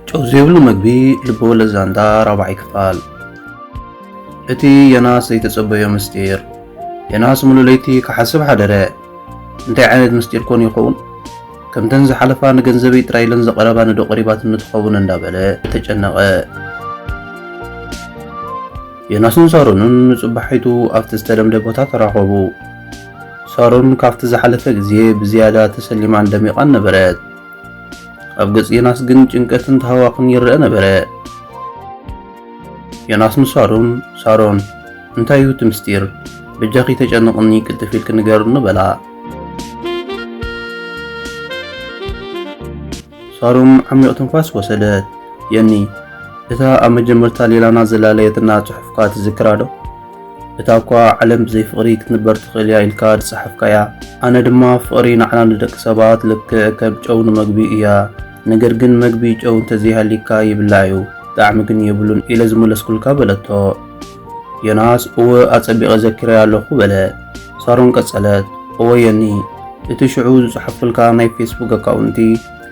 ጨው ዘይብሉ መግቢ ልበወለድ ዛንታ ራብዓይ ክፋል እቲ ዮናስ ዘይተጸበዮ ምስጢር ዮናስ ሙሉ ለይቲ ክሓስብ ሓደረ እንታይ ዓይነት ምስጢር ኮን ይኸውን? ከምተን ዝሓለፋ ንገንዘበይ ጥራይ ኢለን ዝቐረባ ንዶ ቀሪባትኒ ትኸውን እንዳበለ ተጨነቐ። ዮናስን ሳሮንን ንጽባሒቱ ኣብቲ ዝተለምደ ቦታ ተራኸቡ። ሳሮን ካብቲ ዝሓለፈ ግዜ ብዝያዳ ተሰሊማን ደሚቓን ነበረት። ኣብ ገጽ ዮናስ ግን ጭንቀትን ተሃዋኽን ይረአ ነበረ። ዮናስ ንሳሮን ሳሮን እንታይ እዩ እቲ ምስጢር በጃኺ ተጨንቕኒ ቅልጥፍ ኢልኪ ንገርኒ በላ። ሳሮን ዓሚቕ ትንፋስ ወሰደት። የኒ እታ ኣብ መጀመርታ ሌላና ዘላለየትና ጽሑፍካ ትዝክራ ዶ? እታ እኳ ዓለም ብዘይ ፍቕሪ ክትንበር ትኽእል እያ ኢልካ ዝጸሓፍካያ፣ ኣነ ድማ ፍቕሪ ንዓና ንደቂ ሰባት ልክዕ ከም ጨው ንመግቢ እያ ነገር ግን መግቢ ጨው እንተዘይሃልይካ ይብላዕ እዩ፣ ጣዕሚ ግን የብሉን ኢለ ዝመለስኩልካ በለቶ። ዮናስ እወ ኣጸቢቐ ዘኪረያ ኣለኹ በለ። ሳሮን ቀጸለት፣ እወ ዮኒ፣ እቲ ሽዑ ዝጸሓፍኩልካ ናይ ፌስቡክ ኣካውንቲ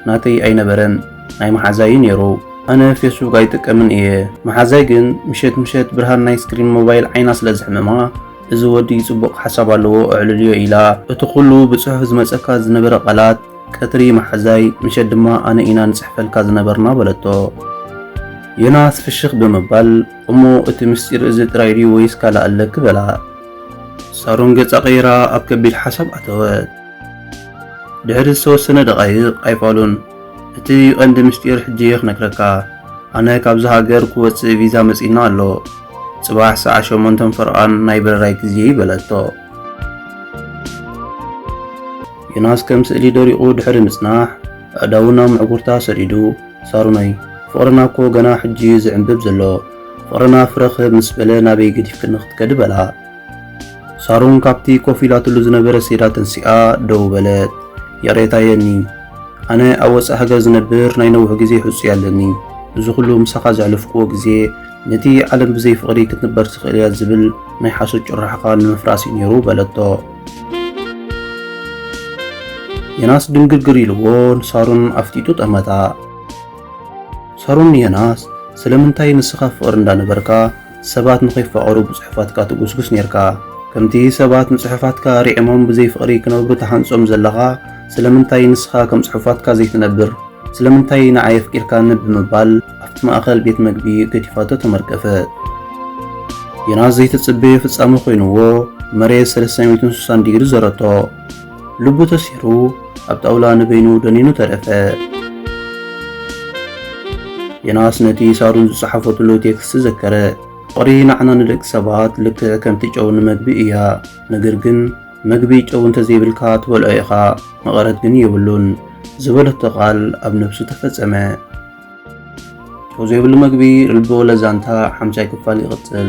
ናተይ ኣይነበረን፣ ናይ መሓዛይ እዩ ነይሩ። ኣነ ፌስቡክ ኣይጥቀምን እየ፣ መሓዛይ ግን ምሸት ምሸት ብርሃን ናይ ስክሪን ሞባይል ዓይና ስለ ዘሕምማ እዚ ወዲ ጽቡቕ ሓሳብ ኣለዎ እዕልልዮ ኢላ እቲ ኩሉ ብጽሑፍ ዝመጸካ ዝነበረ ቃላት ቀትሪ መሓዛይ፣ ምሸት ድማ ኣነ ኢና ንጽሕፈልካ ዝነበርና በለቶ። ዮናስ ፍሽኽ ብምባል፣ እሞ እቲ ምስጢር እዚ ጥራይ ድዩ ወይስ ካልእ ኣለኪ? በላ። ሳሮን ገጻ ቀይራ ኣብ ከቢድ ሓሳብ ኣተወት። ድሕሪ ዝተወሰነ ደቓይቕ ኣይፋሉን፣ እቲ ቀንዲ ምስጢር ሕጂ እየ ክነግረካ። ኣነ ካብዚ ሃገር ክወጽእ ቪዛ መጺና ኣሎ። ጽባሕ ሰዓት ሸሞንተን ፈርቓን ናይ በረራይ ግዜ በለቶ። ዮናስ ከም ስእሊ ደሪቑ ድሕሪ ምጽናሕ፣ ኣእዳዉ ናብ ምዕጉርታ ሰዲዱ፣ ሳሮነይ፣ ፍቕርና እኮ ገና ሕጂ'ዩ ዝዕምብብ ዘሎ፣ ፍቕርና ፍረ ክህብ ምስ በለ ናበይ ገዲፍክኒ ክትከዲ በላ። ሳሮን ካብቲ ኮፍ ኢላትሉ ዝነበረ ሴዳ ተንሲኣ ደው በለት። ይቕሬታ የኒ፣ ኣነ ኣብ ወጻኢ ሃገር ዝነብር ናይ ነዊሕ ግዜ ሕጹይ ኣለኒ፣ እዚ ኩሉ ምሳኻ ዘሕለፍኩዎ ግዜ፣ ነቲ ዓለም ብዘይ ፍቕሪ ክትንበር ትኽእል እያ ዝብል ናይ ሓሶት ጭርሖኻ ንምፍራስ እዩ ነይሩ በለቶ። የናስ ድንግርግር ኢልዎ ንሳሩን ኣፍጢጡ ጠመታ። ሳሮን ንዮናስ ስለምንታይ ንስኻ ፍቕሪ እንዳነበርካ ሰባት ንኸይፋቐሩ ብጽሑፋትካ ትጉስጉስ ኔርካ ከምቲ ሰባት ንጽሑፋትካ ሪዕሞም ብዘይ ፍቕሪ ክነብሩ ተሃንጾም ዘለኻ ስለምንታይ ንስኻ ከም ጽሑፋትካ ዘይትነብር ስለምንታይ ንዓይ ኣፍቂርካኒ ብምባል ኣብቲ ማእከል ቤት መግቢ ገዲፋቶ ተመርቀፈት። ዮናስ ዘይተጽበዮ ፍጻመ ኮይኑዎ መሬት 360 ዲግሪ ዘረቶ። ልቡ ተሲሩ ኣብ ጣውላ ንበይኑ ደኒኑ ተረፈ። ዮናስ ነቲ ሳሩን ዝጸሓፈትሉ ቴክስት ዘከረ። ፍቕሪ ንዓና ንደቂ ሰባት ልክዕ ከምቲ ጨው ንመግቢ እያ። ነገር ግን መግቢ ጨው እንተዘይብልካ ትበልዖ ኢኻ፣ መቐረት ግን የብሉን ዝበለቶ ቃል ኣብ ነብሱ ተፈጸመ። ጨው ዘይብሉ መግቢ ርልቦ ለዛንታ ሓምሻይ ክፋል ይቕፅል።